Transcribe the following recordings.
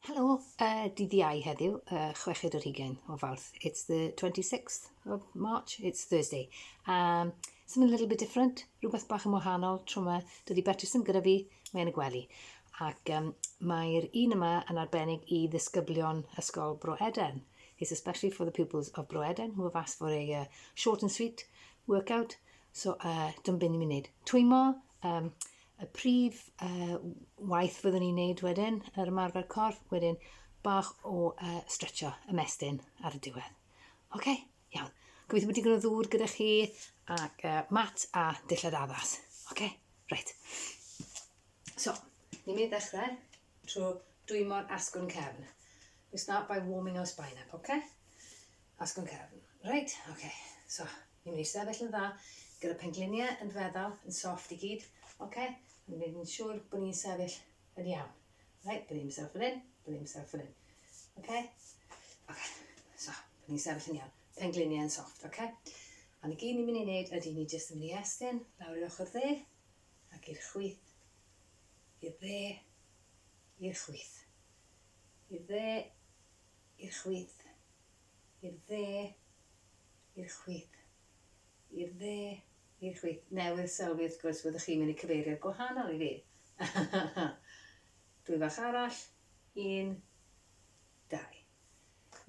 Helo, uh, dydd Iau heddiw, uh, chweched o'r hugain o Fawrth. It's the 26th of March, it's Thursday. Um, something a little bit different, rhywbeth bach yn wahanol, tro yma, dydy Beatrice yn gyda fi, mae'n y gwely. Ac um, mae'r un yma yn arbennig i ddisgyblion Ysgol Bro Eden. It's especially for the pupils of Bro Eden who have asked for a uh, short and sweet workout. So, uh, dyma beth ni'n mynd i wneud. Twymo um, y prif uh, waith fyddwn ni'n neud wedyn, yr ymarfer corff, wedyn bach o uh, stretcho y mestyn ar y diwedd. Oce, okay, iawn. Gobeithio bod digon o ddŵr gyda chi ac uh, mat a dillad addas. Oce, okay, reit. So, ni'n mynd i ddechrau trwy dwymo'r asgwrn cefn. We start by warming our spine up, okay? Asgwrn cefn. Reit, oce. So, ni'n mynd i sefyll yn dda, gyda pengliniau yn feddal, yn soft i gyd, oce? Ni'n mynd i wneud yn siŵr bod ni'n sefyll yn iawn. Reit, bod ni'n sefyll fan hyn, bod ni'n sefyll fan hyn. Oce? Oce. So, bod ni'n sefyll yn iawn. Pengliniau yn soft, oce? Ond i gyd ni'n mynd i wneud ydy ni jyst yn mynd i estyn lawr i'r ochr dde, ac i'r chwith, i'r dde, i'r chwith, i'r dde, I'r chwith. I'r dde. I'r chwith. I'r dde. I'r chwith. Newydd sylwi wrth gwrs fyddwch chi'n mynd i cyfeirio'r gwahanol i fi. Dwy fach arall. Un. Dau.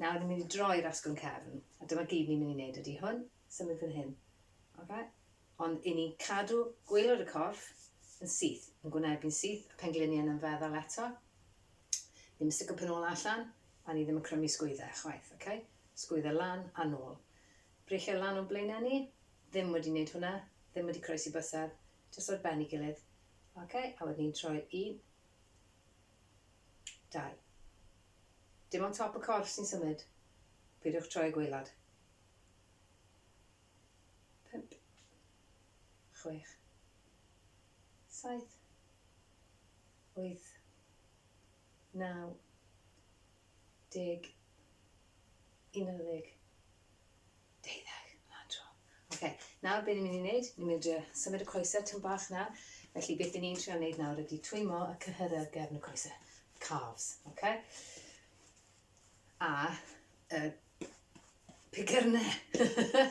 Nawr ni'n mynd i droi i'r asgwrn cefn. A dyma gyd ni'n mynd i wneud ydy hwn. Symud fan hyn. Oce? Ond i ni cadw gwaelod y corff yn syth, yn gwynebu'n syth, a phengliniau yn ymfeddwl eto. Ddim yn sticio pen ôl a allan, a ni ddim yn crymu sgwydde, chwaith, ok? Sgwydde lan a nôl. Breichiau lan o'n blaenau ni, ddim wedi neud hwnna, ddim wedi croesi bysedd, jyst ar ben i gilydd, ok? A wedyn ni'n troi un, dau. Dim ond top y corff sy'n symud, peidiwch troi y gwaelod. Pump, chwech, saith, wyth, naw deg, unarddeg, deuddeg, na tro. Ok, nawr be ni'n mynd i wneud, ni'n mynd i symud y coesau tyn bach na, felly beth ni'n trio wneud nawr ydy twymo y cyhyrau ar gefn y coesau, calves, ok? A y pigyrnau,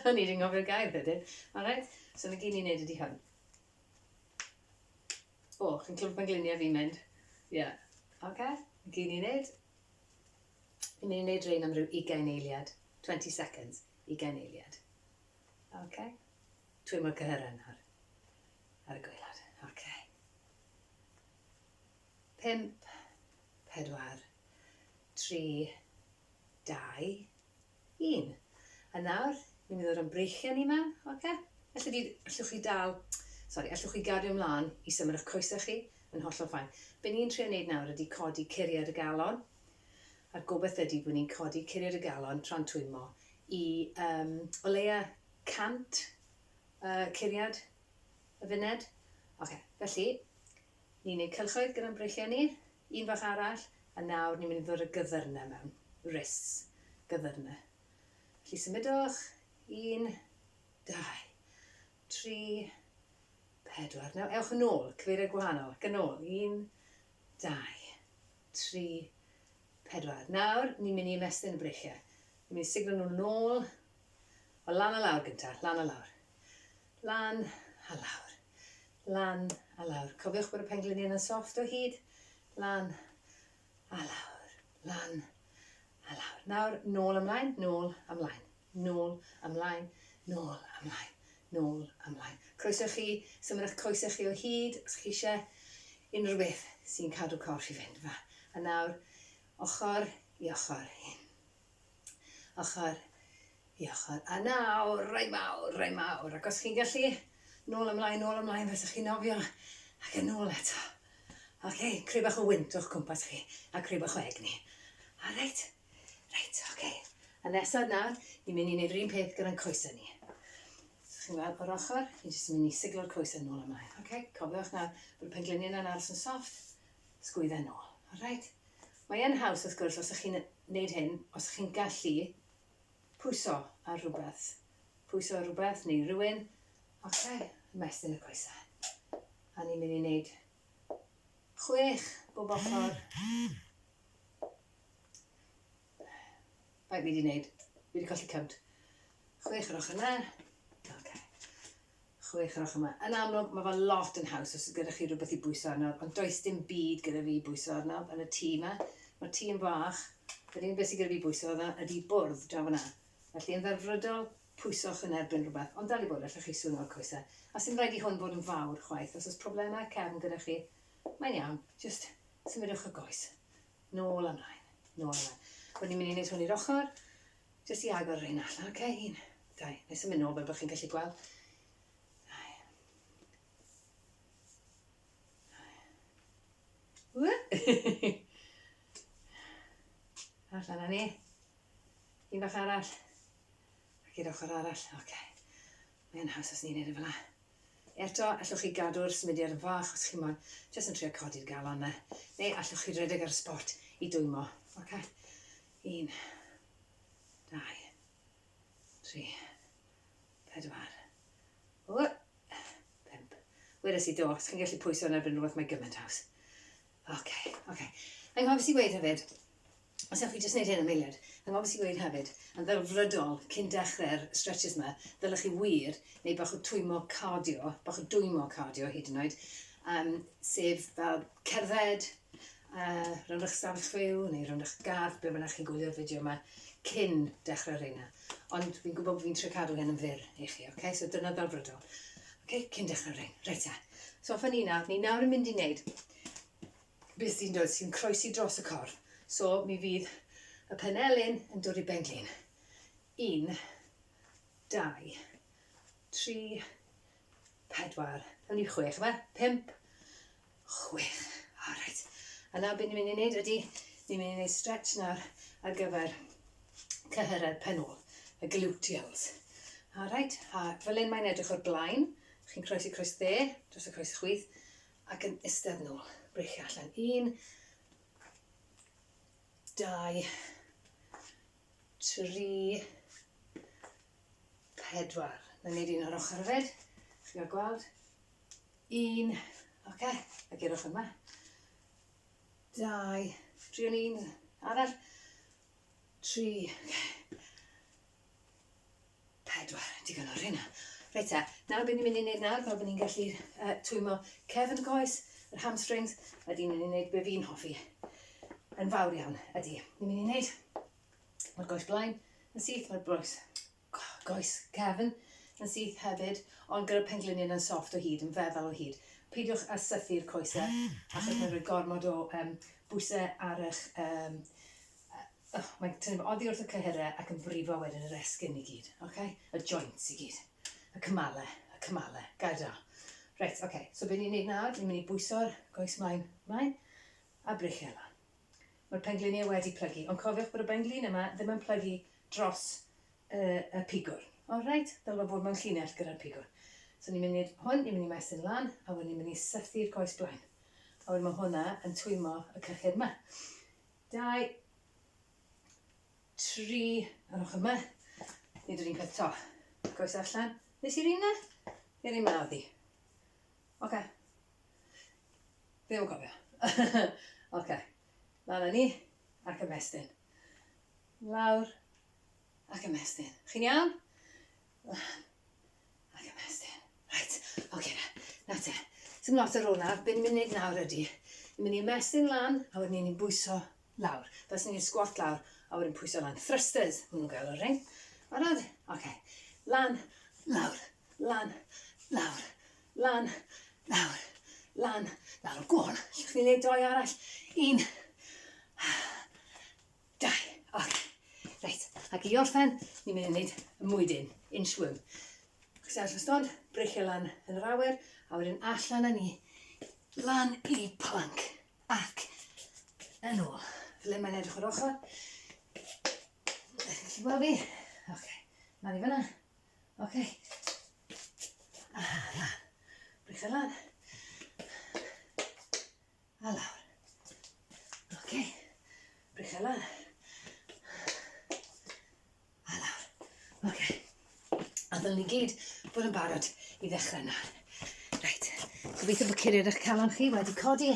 o'n i wedi ngofio'r gair wedyn, alright? So na gyd ni'n wneud ydy hwn. O, chi'n clywed pan gliniau fi'n mynd? Ie. Yeah. Oce, okay. gyn i'n neud. Fi'n mynd i neud rein am rhyw 20 eiliad. 20 seconds, 20 eiliad. Oce. Okay. Twy mor cyhyren nawr. Ar y gweilad. Oce. Okay. Pimp, pedwar, tri, dau, Un. A nawr, ni'n mynd i ddod o'n breichiau ni mewn, oce? Felly fydd, allwch chi dal, sori, allwch chi gario ymlaen i symud ych coesau chi, mae'n hollol fine. Be ni'n trio wneud nawr ydy codi curiad y galon, a'r gobaith ydy bod ni'n codi curiad y galon tra'n twymmo i um, o leia 100 uh, curiad y funed. Oce, felly, Ni'n neud cylchoedd gyda'n breichiau ni, un fach arall, a nawr ni'n mynd i ddod â gyfyrnau mewn. Wrists. Gyfyrnau. Felly symudwch, un, dau, tri, pedwar. Nawr ewch yn ôl, cyfeiriau gwahanol, ac yn ôl, un, dau, tri, pedwar. Nawr ni'n mynd i ymestyn y breichiau. Ni'n mynd i siglo nhw'n ôl, o lan a lawr gynta, lan a lawr. Lan a lawr. Lan a lawr. Cofiwch bod y pengliniau yn soft o hyd. Lan a lawr. Lan a lawr. Nawr, nôl ymlaen, nôl ymlaen. Nôl ymlaen, nôl ymlaen. Nôl ymlaen. Croeso chi, symud eich coesau chi o hyd os chi eisiau. Unrhyw beth sy'n cadw corff i fynd. Fa. A nawr, ochr i ochr hyn. ochr i ochr. A nawr, rai mawr, rai mawr, ac os chi'n gallu, nôl ymlaen, nôl ymlaen, fes chi'n nofio, ac yn nôl eto. Oce, okay, creu bach o wynt o'ch cwmpas chi, a creu bach o egni. A reit, reit, oce. Okay. A nesaf nawr, ni'n mynd i wneud yr un peth gyda'n coesau ni. So chi'n gweld o'r ochr, ni'n jyst yn mynd i siglo'r coesau nôl ymlaen. Oce, okay, cofiwch nawr bod y pengliniau yna'n aros yn soft, sgwydda nôl. A reit, Mae e'n haws wrth gwrs os ych chi'n wneud hyn, os ych chi'n gallu pwyso ar rhywbeth, pwyso ar rhywbeth neu rywun, ok, ymestyn y coesau. A ni'n mynd i wneud chwech bob ochr. Bai fi wedi wneud, fi wedi colli cynt. Chwech yr ochr yna, ok. Chwech o'r ochr 'ma. Yn amlwg, mae fe lot yn haws os oes gyda chi rhywbeth i bwyso arno, ond does dim byd gyda fi i bwyso arno yn y tŷ 'ma. Mae'r tŷ yn fach. Yr unig beth sydd gyda fi i bwyso arno ydy bwrdd draw fan'na. Felly, yn ddelfrydol, pwyswch yn erbyn rhywbeth, ond dal i fod, allwch chi swno y coesau. A 'sdim rhaid i hwn fod yn fawr chwaith. Os oes problemau cefn gyda chi, mae'n iawn, jyst symudwch y goes. Nôl a 'mlaen. Nôl a 'mlaen. Rwy'n i'n mynd i wneud hwn i'r ochr. Jyst i agor yr un allan. Ok, un, dau. Nai symud nôl fel bo chi'n gallu gweld. Dau. Dau. Allan â ni. Un bach arall. Ac i'r ochr arall. Ok. Mae yn haws os ni'n neud e fela. Eto, allwch chi gadw'r symudiad yn fach os chi moyn, jyst yn trio codi'r galon 'na. Neu allwch chi redeg ar y spot i dwymo. Ok. Un, dau, tri, pedwar, ww, pump. Wedes i do, os chi'n gallu pwyso yn erbyn rhywbeth mae gymaint haws. Oce, oce. Yng nghofis i weid hefyd, os ewch chi jyst wneud hyn am eiliad, yng nghofis i weid hefyd, yn ddelfrydol cyn dechrau'r stretches yma, ddylech chi wir neu bach o twymo cardio, bach o dwymo cardio hyd yn oed, um, sef fel cerdded, a rhan o'ch stafell chwiw neu rhan o'ch gardd, ble bynnag chi'n gwylio'r fideo yma, cyn dechrau reina. Ond fi'n gwybod bod fi'n trio cadw hyn yn fyr i chi, oce? Okay? So dyna ddelfrydol. Oce, okay? cyn dechrau rein. Reit e. So fy ni nawr, ni nawr yn mynd i wneud beth sy'n dod sy'n croesi dros y corff. So mi fydd y penelin yn dod i ben glin. Un, dau, tri, pedwar, hynny chwech, yma, pimp, Chwech. O, reit. A nawr beth ni'n mynd i wneud ydy, ni'n mynd i wneud stretch nawr ar gyfer cyhyrau'r penol, y gluteals. A reit, a fel un mae'n edrych o'r blaen, chi'n croesi croes dde, dros y croes chwith, ac yn istedd nôl, brechu allan. Un, dau, tri, pedwar. Na wneud un o'r ochr hefyd, chi'n cael gweld, Un, oce, okay, a gyrwch yma. Dau, triwn un arall. Tri, okay. Pedwar, digon o'r hynna. Reit e, nawr beth ni'n mynd i wneud nawr, fel bod ni'n gallu uh, twymo cefn y coes, yr hamstrings, a di'n mynd i wneud beth fi'n hoffi. Yn fawr iawn, ydy. Ni'n mynd i wneud, mae'r goes blaen, yn syth, mae'r broes Goes cefn yn syth hefyd, ond gyda phengliniau yn soft o hyd, yn feddal o hyd. Peidiwch â sythu'r coesau, achos mae'n rhoi gormod o yym bwysau ar eich yym yy oh, mae'n tynnu fo oddi wrth y cyhyrau ac yn brifo wedyn yr esgyn i gyd, oce? Y joints i gyd. Y cymalau, y cymalau. Gair da. Reit, oce. So be ni'n neud nawr, ni'n mynd i bwyso'r goes mlaen, mlaen, a brechu e lan. Mae'r pengliniau wedi plygu, ond cofiwch bod y benglin yma ddim yn plygu dros y y pigwr. O reit, dylfa fod mewn llinell gyda'r pigwr. So ni'n mynd i'r hwn, ni'n mynd i maestyn lan, a wedyn ni'n mynd i sythu'r coes blaen. A wedyn ma' hwnna yn twymo y cyllid 'ma. Dau, tri, yr ochr 'ma. Nid yr un peth 'to. Coes allan. Nes i'r un 'na? Neu'r un 'ma oedd hi? Oce. Fi ddim yn cofio. Oce. Lan â ni, ac ymestyn. Lawr ac ymestyn. Chi'n iawn? Lan ac ymestyn. Right, oce okay, na, na te. Dim lot ar ôl nawr, beth ni'n mynd i wneud nawr ydy, ni'n mynd i ymestyn lan, a wedyn ni'n bwyso lawr. Fes ni'n sgwat lawr, a wedyn pwyso lan. Thrusters, maen nhw'n gael o'r rhain. Barod? Oce. Okay. Lan, lawr, lan, lawr, Lan, lawr, lan, lawr. Go on. Allwch chi neud doi arall? Un. Dau. Ok. Reit. Ac i orffen, ni'n mynd i wneud y mwydyn, inchworm. Chi sefyll y stond, breichio lan yn yr awyr, a wedyn allan â ni, lan i plank, ac yn ôl. Ble mae'n edrych o'r ochr? Ydych chi'n gallu gweld fi? Ok. Lan i fyna. Oce. A lan. Bricks a lan. A lawr. Oce. Bricks a lan. A lawr. Oce. A ddylwn ni gyd bod yn barod i ddechrau yna. Reit. Gobeithio bod curiad eich calon chi wedi codi.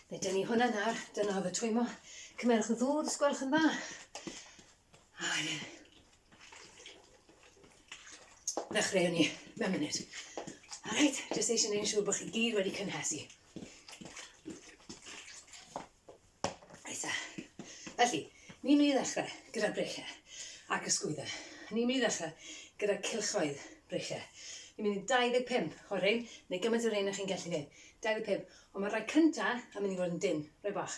Fe dyn ni hwnna nawr. Dyna oedd y twymo. Cymerwch y ddŵr, sgwelwch yn dda. A ie. Ddechreu ni mewn munud. Alright, jyst eisiau gwneud yn siŵr bod chi gyd wedi cynhesu. Reit a. Felly, ni'n mynd i ddechrau gyda breichiau ac ysgwyddau. Ni'n mynd i ddechrau gyda cilchoedd breichiau. Ni'n mynd i 25 o'r rhain, neu gymaint o'r rhain ych chi'n gallu gwneud. 25, ond mae'r rhai cyntaf yn mynd i fod yn dyn, rhai bach.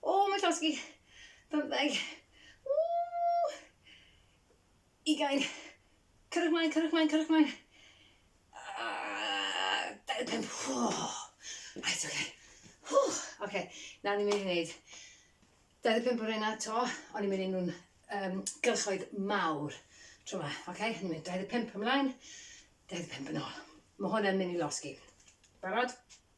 O, mae'n llosgi. Bymtheg. Ww! Ugain. Cyrwch mlaen, cyrwch mlaen, cyrwch mlaen. Uh, 25. Oh. Right, oce. Okay. Oh, okay. Na, ni'n mynd i wneud 25 o'r un ato, ond ni'n mynd i nhw'n um, gylchoedd mawr tro yma. Oce, okay? ni'n mynd 25 ymlaen, 25 yn ôl. Mae hwn yn mynd i losgi. Barod?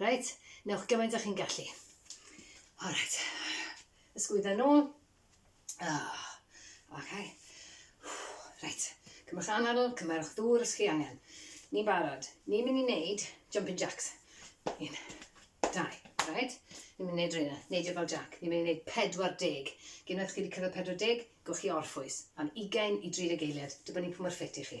Reit, newch gymaint â chi'n gallu. Alright, ysgwydda nôl. Oh, ok. Reit, cymwch anadl, cymerwch ddŵr os chi angen. Ni'n barod. Ni'n mynd i wneud jumping jacks. Un, dau, right? Ni'n mynd i wneud rhywun, neidio fel jack. Ni'n mynd i wneud 40. Gyn oedd chi wedi cyrraedd 40, gwch chi orffwys. Am 20 i 30 eiliad, dibynnu pwy mor ffit i chi.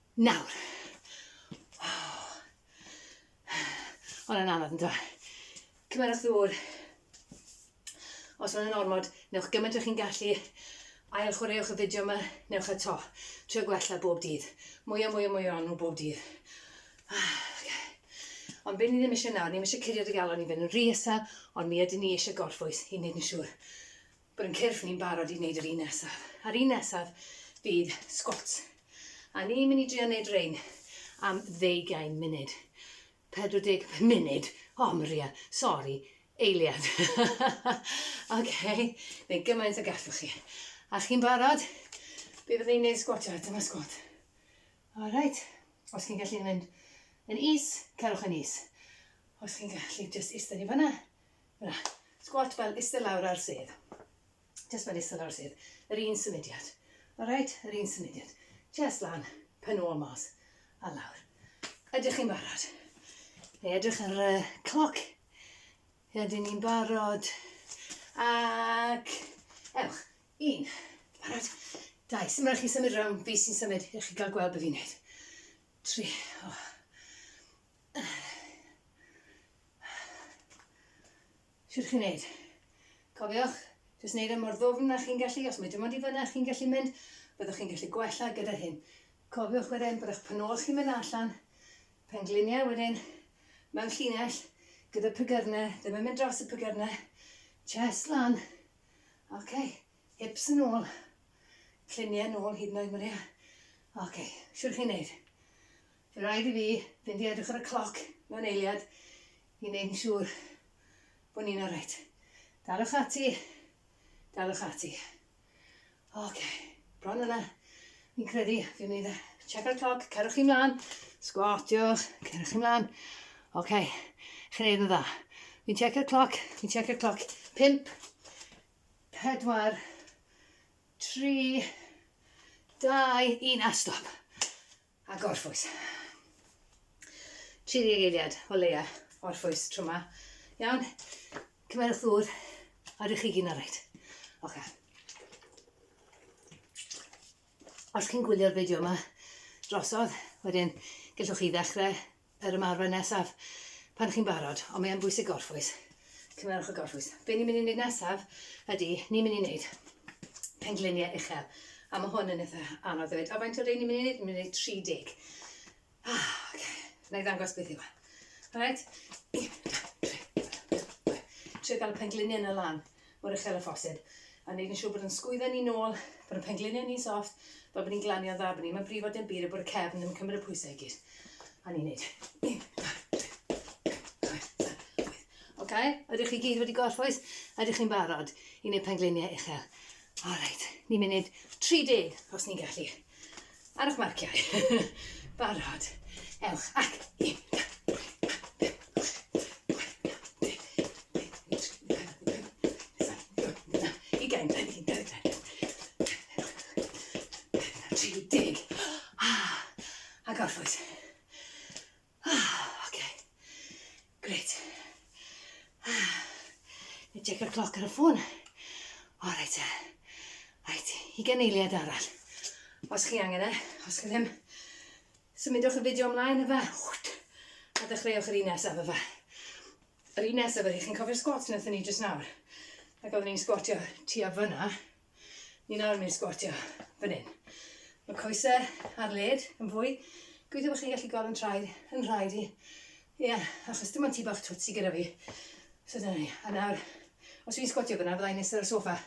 Nawr. Ond yn anodd yn dweud. Cymerwch ddŵr. Os mae'n yn ormod, newch gymaint o chi'n gallu. Ail chwaraewch y fideo yma, newch a to. Trio gwella bob dydd. Mwy a mwy a mwy o'n nhw bob dydd. Ah, okay. Ond be ni ddim eisiau nawr, ni ddim eisiau cuddio dy galon i fynd yn rhy isel, ond mi ydyn ni eisiau gorffwys i wneud yn siŵr Bod yn cyrff ni'n barod i wneud yr un nesaf. A'r un nesaf fydd squats. A ni'n mynd i drio wneud rein am ddeugain munud. 40 munud. O, Maria, sori, eiliad. OK, neu gymaint o gallwch chi. A chi'n barod? Bydd yn ei wneud sgwatio, dyma sgwat. All right. Os chi'n gallu mynd yn is, cerwch yn is. Os chi'n gallu just eistedd i fanna, Squat fel iste lawr ar sedd. Jyst fel iste lawr sedd. Yr un symudiad. Alright? Yr un symudiad. Jyst lan, pen ôl mas, a lawr. Ydych chi'n barod? Neu edrych ar y cloc. Ydyn ni'n barod? Ac ewch. Un. Barod. Dau. Symud rhaid chi symud rhwng. Fi sy'n symud. Ych chi gael gweld beth fi'n neud. Tri. Oh. Siwr chi'n neud. Cofiwch, jyst neud e mor ddwfn â chi'n gallu, os mae dim ond i fyna chi'n gallu mynd, byddwch chi'n gallu gwella gyda hyn. Cofiwch wedyn bod eich pen ôl chi'n mynd allan, pengliniau wedyn, mewn llinell, gyda pigyrne, ddim yn mynd dros y pigyrne, chest lan, ok, hips yn ôl, cliniau nôl hyd yn oed Maria, ok, siwr chi'n neud. Fe raid i fi fynd i edrych ar y cloc mewn eiliad i wneud yn siŵr bod ni'n oreit. Daliwch ati, daliwch ati. Oce, bron yna. Fi'n credu, fi'n mynd i check ar y cloc, cerwch chi mlaen, sgwatiwch, cerwch chi mlaen. Oce, chi'n neud yn dda. Fi'n check ar y cloc, fi'n check ar y cloc. Pimp, pedwar, tri, dau, un, a stop. A gorffwys. Tri deg eiliad o leia orffwys tro ma. Iawn? Cymerwch ddŵr a rydych chi gyn o rhaid. Oce. Os chi'n gwylio'r fideo yma drosodd, wedyn gellwch chi ddechrau yr ymarfer nesaf pan chi'n barod, ond mae yn bwysig gorffwys. Cymerwch y gorffwys. Be ni'n mynd i wneud nesaf ydy, ni'n mynd i wneud pengliniau uchel. A mae hwn yn eitha anodd ddweud. A faint o rei ni'n mynd i wneud? Ni'n mynd i wneud 30. Ah, oce. Okay. Na i ddangos beth yw e. Alright? Trio gael y pengliniau yna lan. mor uchel â phosib, a wneud yn siŵr bod yn sgwydda ni nôl, bod yn pengliniau ni'n sofft, fel bod ni'n glanio'n dda, bod ni'm yn brifo dim byd a bod y cefn ddim yn cymryd y pwysau i gyd. A ni'n neud. Un, dau, tri, Ok, ydych chi gyd wedi gorffwys? Ydych chi'n barod i wneud pengliniau uchel? Alright, ni'n mynd 30 os ni'n gallu. Ar eich marciau. Barod. Ewch. Ac. Un. Ugain. Tri deg. A gorffwys. Ah, ok. Grêt. Ah. Neu check y cloc ar y ffôn. O, reit e. Reit, i gen eiliad arall. Os chi angen e, os chi ddim, symudwch y fideo ymlaen efe. A dechreuwch yr un nesaf efe. Yr un nesaf efe, chi'n cofio'r sgwat wnaethon ni jyst nawr? Ac oeddwn ni'n sgwatio tu a fyna. Ni nawr ni'n sgwatio fan hyn. Mae coesau ar led yn fwy. Gweithio bod chi'n gallu gol yn traed, yn rhaid i. Ie, yeah, achos dim ond ti bach twtsi gyda fi. So dyna ni. A nawr, os fi'n sgwatio fyna, fyddai'n nesaf ar y sofa.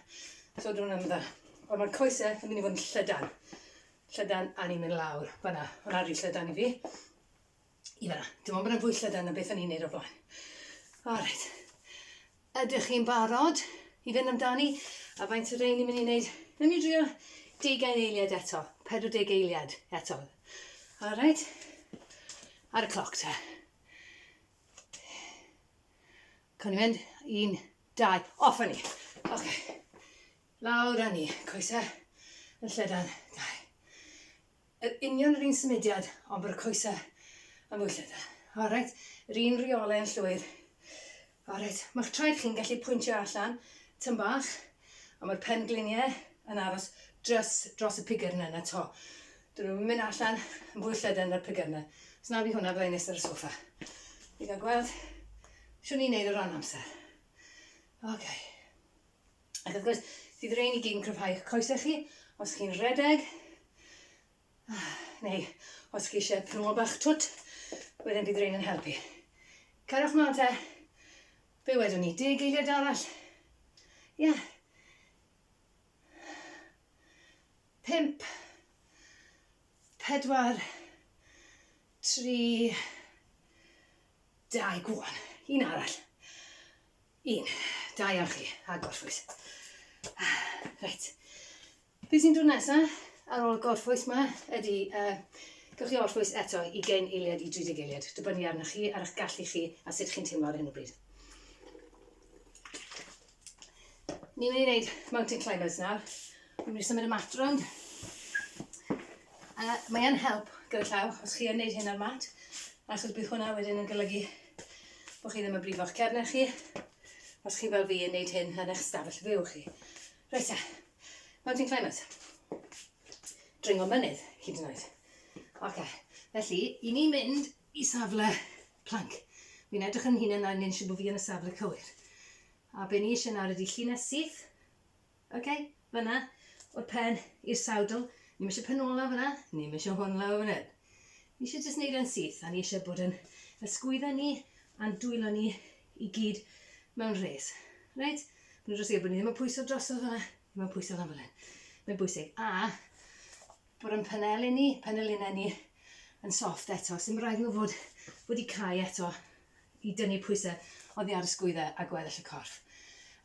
So drwy'n ymdda. Ond mae'r coesau yn mynd i fod yn llydan. Llydan a ni'n mynd lawr. Fyna, hwnna rhi llydan i fi. i fan'na. Dim ond bod e'n fwy llydan na beth o'n i'n neud o'r blaen. O reit. Ydych chi'n barod i fynd amdani? A faint o rein ni'n mynd i wneud? Newn ni drio deugain eiliad eto. 40 eiliad eto. O reit. Ar y cloc te. Cawn ni mynd? Un, dau. Off â ni. Oce. Okay. Lawr â ni. Coesau yn llydan. Dau. Yr union yr un symudiad ond bod y coesau yn fwy llythyr. Alright, yr un rheolau yn llwyr. Alright, mae'ch traed chi'n gallu pwyntio allan tyn bach, a mae'r pengliniau yn aros dros, dros y pigyrnau yna to. Dyn nhw'n mynd allan yn fwy llydan na'r pigyrnau. Os na fi hwnna, byddai'n nes ar y sofa. Fi gael gweld siwn ni'n neud o ran amser. Oce. Okay. Ac wrth gwrs, fydd y rhein i gyd yn cryfhau eich coesau chi, os chi'n rhedeg, neu os chi eisiau prymol bach twt, wedyn bydd rhain yn helpu. Cariwch mlaen te, be wedwn ni, deg eiliad arall? Ie. Yeah. Pimp, pedwar, tri, dau, gwan, un arall. Un. Da iawn chi, a gorffwys. Reit. Be sy'n dod nesa ar ôl y gorffwys ma ydy, uh, gewch chi orffwys eto i gen eiliad i 30 eiliad, dibynnu arnoch chi, ar eich gallu chi a sut chi'n teimlo ar hyn o bryd. Ni'n mynd i wneud mountain climbers nawr. Ni'n mynd i symud y mat rownd. Uh, mae'n help gyda llaw os chi yn gwneud hyn ar mat, achos bydd hwnna wedyn yn golygu bod chi ddim yn brifo'ch cefnau chi os chi fel fi yn neud hyn yn eich stafell fyw chi. Reit e, mountain climbers. Dringo mynydd, hyd yn oed. Oce, felly, i ni mynd i safle plank. Fi'n edrych yn hunan a ni'n siŵr bod fi yn y safle cywir. A be ni eisiau nawr ydy llinell syth Ok, fanna, o'r pen i'r sawdl. Ni'm eisiau pen ôl lawr fanna, ni'm eisiau hwn lawr fan hyn. Ni eisiau jyst neud e'n syth, a ni eisiau bod yn ysgwydda ni a'n dwylo ni i gyd mewn rhes. Reit? Mae'n dros eir bod ni ddim yn pwyso drosodd fanna, ddim yn pwyso lan fan hyn. Mae'n bwysig. A, bod yn paneli ni, panelinau ni yn soft eto. Sy'n rhaid nhw fod wedi cau eto i dynnu pwysau oddi ar y sgwyddau a gweddill y corff.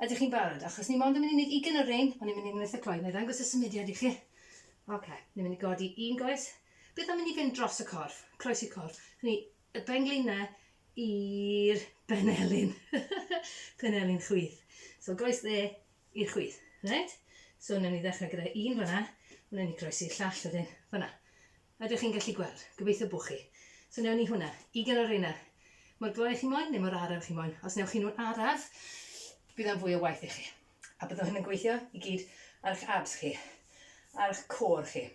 Ydych chi'n barod? Achos ni mond yn mynd i wneud ugen o rein, ond ni'n mynd i wneud eitha cloi. Neu ddangos y symudiad i chi. Oce, okay. ni'n mynd i godi un goes. Beth am mynd i fynd dros y corff, croes i'r corff? Hynny, y benglinau i'r benelin. penelin chwith. So goes dde, i'r chwith. Reit, so wnawn ni ddechrau gyda un fanna, wnawn ni groesi'r llall wedyn fanna. Ydych chi'n gallu gweld? Gobeithio bo chi. So wnawn ni hwnna, ugain o reina. Mor gloi chi moyn neu mor araf chi moyn. Os newch chi nhw'n araf, bydd o'n fwy o waith i chi. A bydd hyn yn gweithio i gyd ar eich abs chi, ar eich core chi,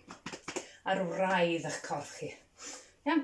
ar wraidd eich corff chi. Iawn?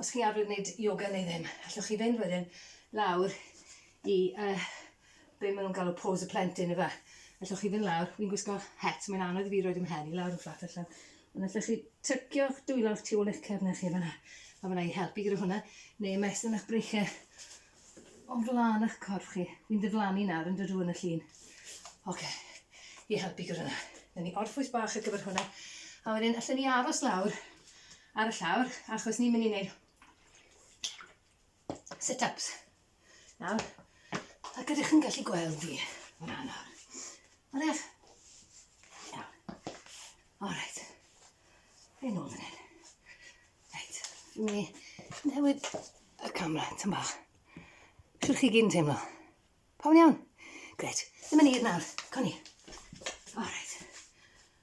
Os chi arfer wneud yoga neu ddim, allwch chi fynd wedyn lawr i uh, be maen nhw'n galw pose y plentyn efe. Allwch chi fynd lawr, fi'n gwisgo het, mae'n anodd i fi roed ym mhen i lawr yn fflat allan. Ond allwch chi tycio'ch dwylo'r tu ôl eich cefnau chi fyna, a fyna i helpu gyda hwnna, neu ymestyn eich breichiau o'n flaen eich corff chi. Fi'n diflannu nawr yn dydw yn y llun. Oce, okay. i helpu gyda hwnna. Dyna ni orffwys bach ar gyfer hwnna. A wedyn, allan ni aros lawr ar y llawr achos ni'n mynd i wneud sit-ups. Nawr, a gyda chi'n gallu gweld fi fan hyn nawr. Oedech? Iawn. Alright. Fe nôl fan hyn. Reit, dwi'n mynd i newid y camera tyn bach. Siwr chi gyd yn teimlo. Pawn iawn? Gret. Ddim yn hir nawr. Cwn i. Alright.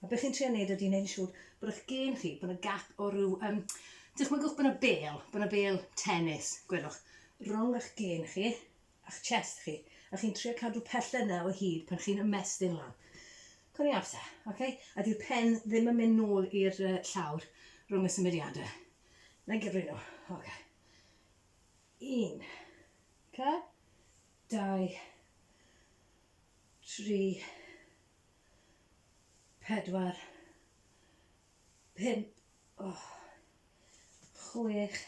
A be chi'n trio neud ydi neud yn siŵr bod eich gên chi, bod 'na gap o ryw, um, dychmygwch bod 'na bêl, bod 'na bêl tennis, gwelwch, rhwng eich gên chi a'ch chest chi, a chi'n trio cadw pelled 'na o hyd pan chi'n ymestyn lan. Co'n i'n afta, oce? Okay? A di'r pen ddim yn mynd nôl i'r uh, llawr rhwng y symudiadau. Na i'n gyfri nhw, oce. Okay. Un, ca, dau, tri, pedwar, pump, oh, chwech,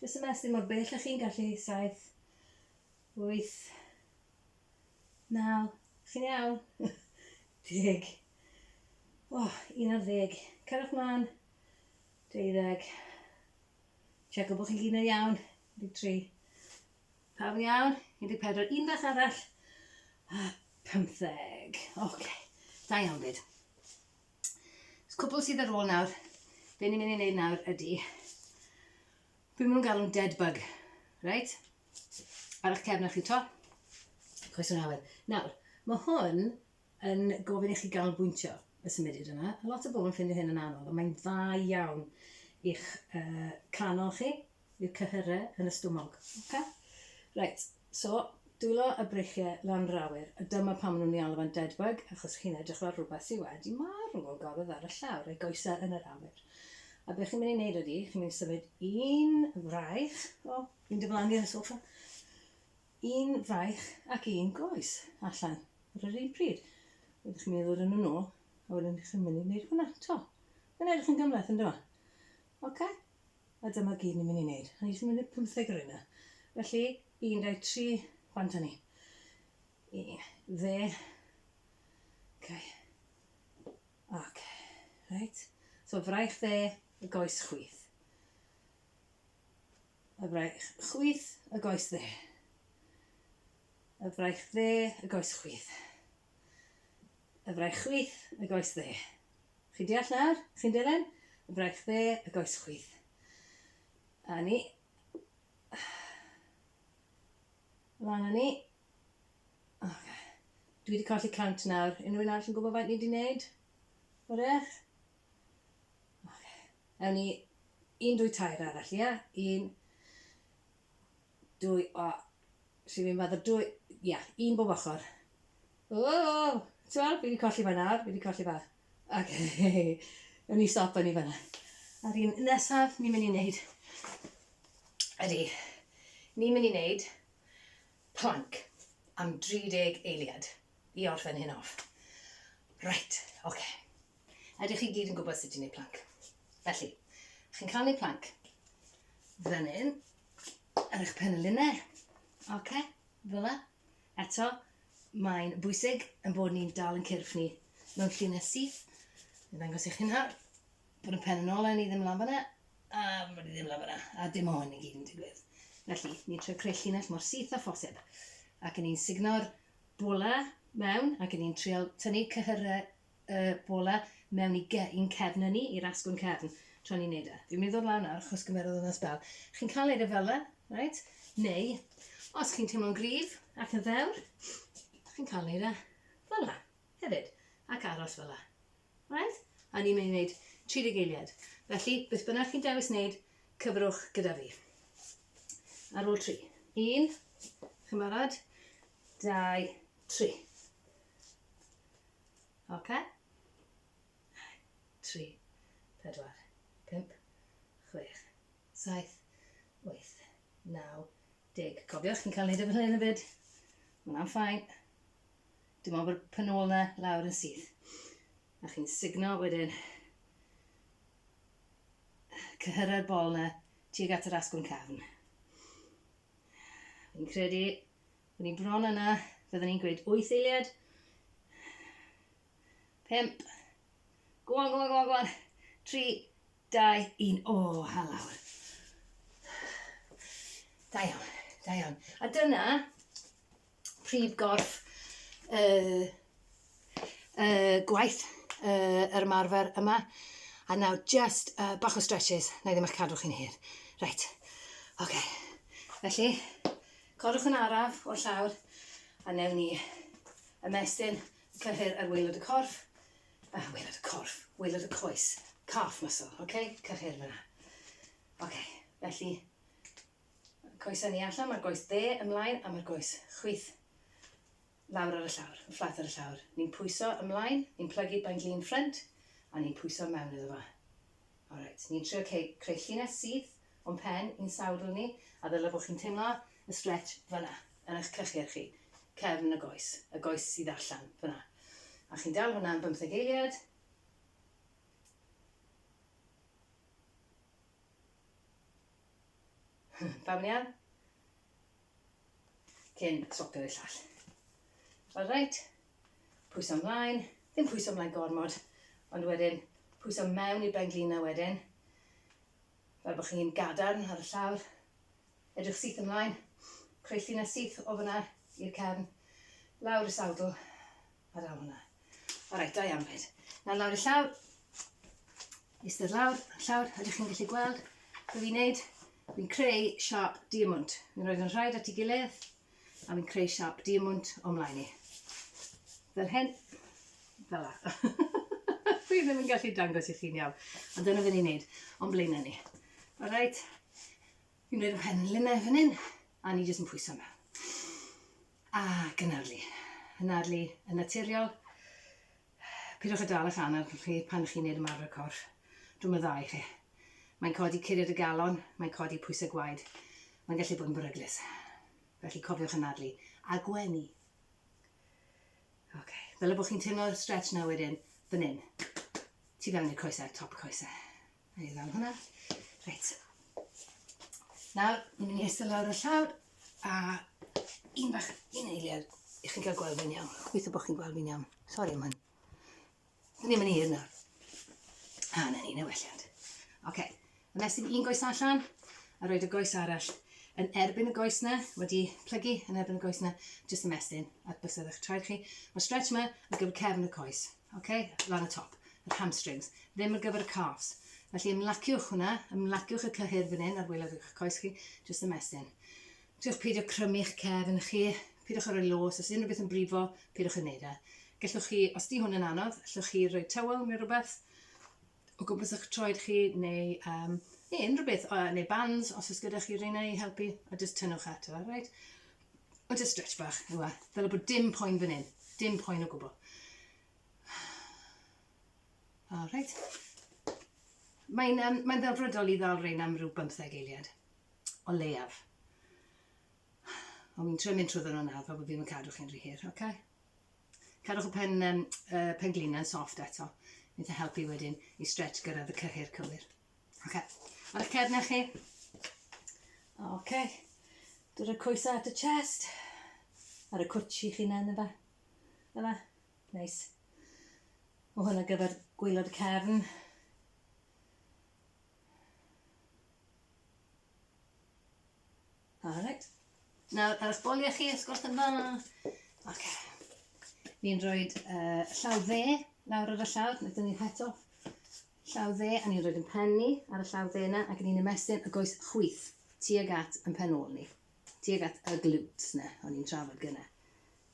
jyst yn mestyn mor bell a chi'n gallu, saith, wyth, naw, chi'n iawn, deg, oh, un ar ddeg, cerwch mlaen, deuddeg, checo bod chi'n gyd yn iawn, 23, Pam iawn? 14, un beth arall, a 15. Ok, da iawn fyd. Cwpl sydd ar ôl nawr, be ni'n mynd i wneud nawr ydy, be maen nhw'n galw'n dead bug, right? Ar eich cefn o'ch chi to, coes yn awyr. Nawr, mae hwn yn gofyn i chi ganolbwyntio y symudiad yma. A lot o bobl yn ffindio hyn yn anodd, ond mae'n dda iawn i'ch uh, canol chi, i'w cyhyrau yn y stwmog. Okay? Right, so dwylo y breichiau lan rawyr, a dyma pan maen nhw'n ei alw fan dead bug, achos chi'n edrych fel rhywbeth sydd wedi marw o gofydd ar y llawr, ei goesau yn yr awyr. A beth chi'n mynd i wneud ydy, chi'n mynd i symud un fraich, o, fi'n diflannu ar y sofa, Un fraich ac un groes allan ar yr un pryd. Wedyn chi'n mynd i ddod â nhw nôl, a wedyn chi'n mynd i wneud hwnna 'to. Mae'n edrych yn gymhleth, yn dyma. Oce? A dyma gyd ni'n mynd i wneud. A ni jyst yn mynd i wneud pymtheg o reina. Felly, un, dau, tri, bant â ni. Un, dde. Oce. Oce. Reit. So, fraich dde, y goes chwith. Y fraich chwith, y goes dde. Y fraich dde, y goes chwith. Y fraich chwith, y goes dde. Chi'n deall nawr? Chi'n dilyn? Y fraich dde, y goes chwith. A ni. Lan a ni. Okay. Dwi wedi colli cant nawr. Unrhyw un arall yn gwybod faint ni wedi wneud? O'r eich? Oce. Ewn ni un, dwy, tair arall, ia? Un, dwy, o, si fi'n faddo dwy, ia, un bob ochr. O, ti'n fi wedi colli fe nawr, fi wedi colli fe. Ac, ewn ni stop yn i fanna. A'r un nesaf, ni'n mynd i wneud, ydy, ni'n mynd i wneud Plank am 30 eiliad i orffen hyn off. Reit, oce. Ydych chi gyd yn gwybod sut i wneud plank? Felly, chi'n cael wneud plank fan hyn, ar eich pen y lunau. Oce, fel yna. Eto, mae'n bwysig yn bod ni'n dal yn cyrff ni mewn llinell syth. Yn dangos eich hunhar. Put y pen yn ôl Len i ddim lan fanna, a fod i ddim lan fanna, a dim o hyn i gyd yn digwydd. Felly, ni'n troi creu llinell mor syth â phosib, ac ni'n sugno'r bola mewn, ac ni'n trial tynnu cyhyrau y bola mewn i ge, i'n cefn yn ni, i'r asgwrn cefn, tra ni'n neud e. Fi'n mynd i ddod lawr nawr, achos gymerodd hwnna sbel. Chi'n cael neud e fel yna, right? Neu, os chi'n teimlo'n gryf ac yn ddewr, chi'n cael neud e fel yna, hefyd, ac aros fel yna. Reit? A ni'n mynd i wneud 30 eiliad. Felly, beth bynnag chi'n dewis wneud, cyfrwch gyda fi. Ar ôl tri. Un, chi'n barod? Dau, tri. Oce? Tri, pedwar, pimp, chwech, saith, wyth, naw, deg. Cofiwch, chi'n cael wneud efo hyn yn y byd. Mae'n ffain. Dim ond bod pun ôl 'na lawr yn syth. A chi'n signo wedyn cyhyrra'r bol 'na tuag at yr asgwrn cafn. Fi'n credu bod ni bron yna, fydden ni'n gweud 8 eiliad. 5. Go on, go on, go on, go on. 3, 2, 1. O, oh, halawr. Da iawn, da iawn. A dyna, prif gorff y y gwaith y yr ymarfer yma a nawr just uh, bach o stretches na i ddim eich cadw chi'n hir reit oce okay. felly codwch yn araf o'r llawr a newn ni ymestyn y cyhyr ar waelod y corff a uh, waelod y corff waelod y coes calf muscle oce okay? cyhyr fyna oce okay. felly Coes ynni allan, mae'r goes dde ymlaen a mae'r goes chwith lawr ar y llawr, y fflat ar y llawr. Ni'n pwyso ymlaen, ni'n plygu bain glin ffrynt a ni'n pwyso mewn iddo fo. Alright, ni'n trio creu llinell syth o'n pen i'n sawdl ni a ddyle bod chi'n teimlo y stretch fyna, yn eich clychau'r chi, cefn y goes, y goes sydd allan fyna. A chi'n dal hwnna am bymtheg eiliad, Pam iawn? Cyn swapio'r llall. Alright, pwyso ymlaen, ddim pwyso ymlaen gormod, ond wedyn pwyso mewn i'r benglina wedyn, fel bod chi'n gadarn ar y llawr, edrych syth ymlaen, creu llinell syth o fyna i'r cefn, lawr y sawdl, A daw hwnna. Alright, da iawn fyd. Nawr lawr i llaw. Eistedd lawr, llawr, ydych chi'n gallu gweld? Be fi'n neud? Fi'n creu siop diamwnt. Fi'n rhoi nhw'n rhaid at ei gilydd, a fi'n creu siop diamwnt o mlaen i. Fel hyn, fel la. Fi ddim yn gallu dangos i chi'n iawn, ond dyna fi'n ei wneud, o'n blaenau ni. Alright, fi'n rhoi rhywun pen linnau fan hyn, a ni jyst yn pwyso mewn. A gynadlu. Anadlu yn naturiol. Pidwch â dal eich anaf chi pan chi'n neud ymarfer corff. Drwm y ddau chi. Mae'n codi curiad y galon, mae'n codi pwysau gwaed, mae'n gallu bod yn beryglus. Felly cofiwch anadlu a gwenu. Ok, fel y bod chi'n teimlo'r stretch na wedyn, fan hyn. Tu fewn i'r coesau, top y coesau. Neu i ddawn hwnna. Reit. Nawr, ni'n mynd i eistedd lawr y llawr a un bach un eiliad i chi'n cael gweld fi'n iawn. Gweithio bod chi'n gweld fi'n iawn. Sori am hyn. Ni'n mynd i hir nawr. A, na ni, newelliant. Oce, okay. ymestyn un goes allan a roed y goes arall yn erbyn y goes na, wedi plygu yn erbyn y goes na, jyst ymestyn at bysedd eich traed chi. Mae stretch yma ar gyfer cefn y coes. Ok, lan y top, yr hamstrings, ddim ar gyfer y calves. Felly ymlaciwch hwnna, ymlaciwch y cyhyr fan hyn ar wylod eich coes chi, just ymestyn. Tiwch peidio crymu'ch cef yn chi, peidiwch ar y los, os unrhyw beth yn brifo, peidiwch yn neud e. Gellwch chi, os di hwn yn anodd, allwch chi rhoi tywel neu rhywbeth o gwmpas eich troed chi, neu, um, neu unrhyw beth, neu bands, os oes gyda chi reina i helpu, a just tynnwch ato fe, right? O, just stretch bach, yw e. Fel bod dim poen fan hyn. Dim poen o gwbl. All right. Mae'n um, mae ddelfrydol i ddal rhain am rhyw 15 eiliad. O leiaf. Ond mi'n trio mynd trwy nhw'n nawr fel bod fi'n yn cadw chi'n rhy hir, oce? Okay? Cadwch y pen, um, uh, pen glina'n soft eto. Mae'n helpu wedyn i stretch gyrraedd y cyhyr cywir. Oce. Ar eich cefnau chi. Oce. Dod y coesau at y chest. Ar y cwtsh i'ch hunain yma. Yma. Neis. O hwn ar gyfer gwylod y cefn. Alright. Nawr, ar eich boliau chi, os gwrs yn dda. Oce. Fi'n rhoi uh, llaw dde lawr ar y llawr, wnaethon ni het off. Llaw dde a ni'n rhoid yn pen ni, ar y llaw dde 'na, ac ni'n ymestyn y goes chwith tuag at yn pen ôl ni, tuag at y glutes 'na o'n i'n trafod gynne.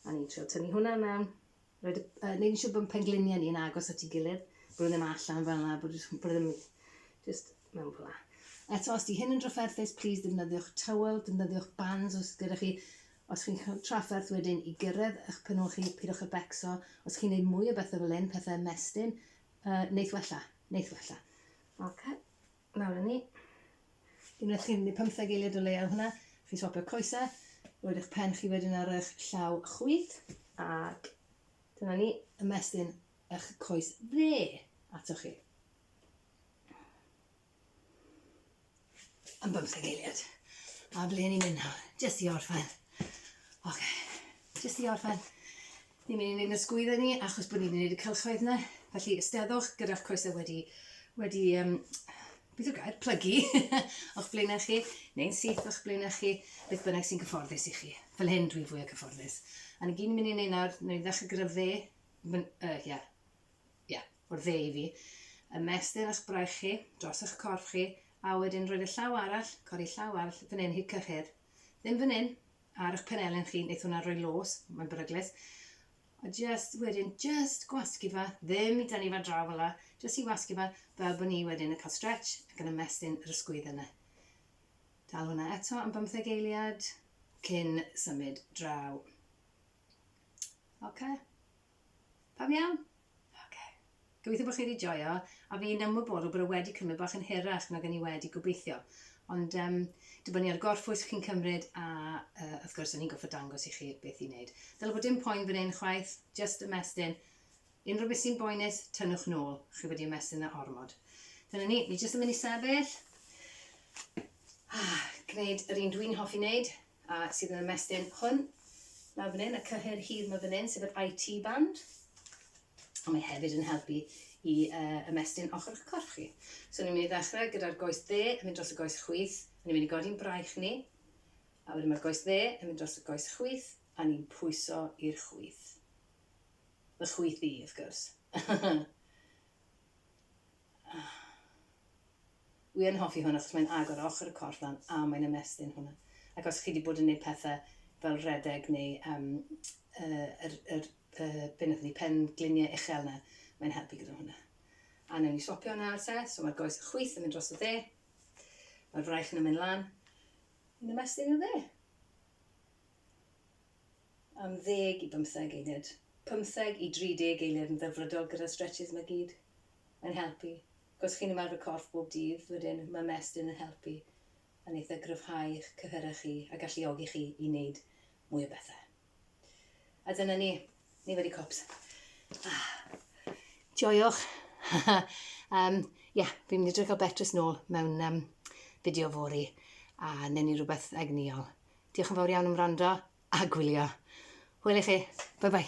A ni'n trio tynnu hwnna mewn, rhoid y, uh, neud yn siŵr bod pengliniau ni'n agos at ei gilydd, bod nhw ddim allan fel yna, bod nhw ddim just mewn fel yna. Eto, os di hyn yn drafferthus, please defnyddiwch tywel, defnyddiwch bands os gyda chi. Os chi'n cael trafferth wedyn i gyrraedd eich penol chi, pidwch â becso. Os chi'n neud mwy o bethau fel hyn, pethau ymestyn, Yy, neith wella. Neith wella. Ok. Nawr a ni. Unwaith chi'n mynd i pymtheg eiliad o leia o hwnna, chi'n swapio coesau, roed eich pen chi wedyn ar eich llaw chwith, ac dyna ni, ymestyn eich coes dde atoch chi. Am bymtheg eiliad. A ble ni'n mynd nawr? Jyst i orffen. Oce. Okay. Jyst i orffen. Ni'n mynd i wneud ysgwyddo ni achos bod ni'n wneud y cylchoedd yna. Felly ysteddwch gyda'ch coesau wedi, wedi um, beth yw'r gair, plygu o'ch blaenau chi, neu'n syth o'ch blaenau chi, beth bynnag sy'n cyfforddus i chi. Fel hyn dwi'n fwy o cyfforddus. A ni gyd yn mynd i wneud nawr, ni'n ddechrau gyda fe, uh, yeah, ie, o'r dde i fi, ymestyn ych braich chi dros eich corff chi, a wedyn rhoi'r llaw arall, codi llaw arall, fan hyn hyd cyhyr. Ddim fan hyn, ar eich penelin chi, wneith hwnna roi los, mae'n beryglus. A just wedyn, just gwasgu fa, ddim i dynnu fa draw fel la, just i wasgu fa, fel bod ni wedyn yn cael stretch ac yn ymestyn yr ysgwydd yna. Dal hwnna eto am bymtheg eiliad cyn symud draw. Okay. Pam iawn? Ok. Gobeithio bod chi wedi joio, a fi'n ymwybodol bod e wedi cymryd bach yn hirach nag o'n i wedi gobeithio. Ond um, dibynnu ar gorffwys chi'n cymryd, a uh, wrth gwrs, o'n i'n goffod dangos i chi beth i wneud. Dyla bod dim poen fan hyn chwaith, just ymestyn. Unrhyw beth sy'n boenus, tynnwch nôl. Chi wedi ymestyn na ormod. Dyna ni, ni jyst yn mynd i sefyll. Ah, gwneud yr un dwi'n hoffi wneud, A sydd yn ymestyn hwn, lawr fan hyn, y cyhyr hir ma fan hyn, sef yr IT band. Ond mae hefyd yn helpu i uh, ymestyn ochr o'ch corff chi. So ni'n mynd i ddechrau gyda'r goes dde yn mynd dros y goes chwith, a ni'n mynd i godi'n braich ni, a wedyn mae'r goes dde yn mynd dros y goes chwith, a ni'n pwyso i'r chwith. Fy chwith i, wrth gwrs. Wi yn hoffi hwn achos mae'n agor ochr y corff lan a mae'n ymestyn hwnna. Ac os chi 'di bod yn neud pethe fel rhedeg neu yym yy yr yr yy be' nathon ni pen glinie uchel 'na mae'n helpu gyda hwnna. A newn ni swopio nawr te so ma'r goes yn chwith yn mynd dros y dde. Ma'r fraich yn yn mynd lan. Yn ymestyn i'r dde. Am ddeg i bymtheg eiliad. Pymtheg i dri deg eiliad yn ddelfrydol gyda'r stretches 'ma gyd yn helpu. Os chi'n ymarfer corff bob dydd, wedyn ma' mestyn yn helpu yn eitha gryfhau eich cyhyrau chi a galluogi chi i neud mwy o bethe. A dyna ni. Ni wedi cops. Ah. Joiwch. um, yeah, fi'n mynd i drio cael Beatrice nôl mewn um, fideo fori a newn ni rhywbeth egnïol. Diolch yn fawr iawn am wrando a gwylio. Hwyl i chi. Bye bye.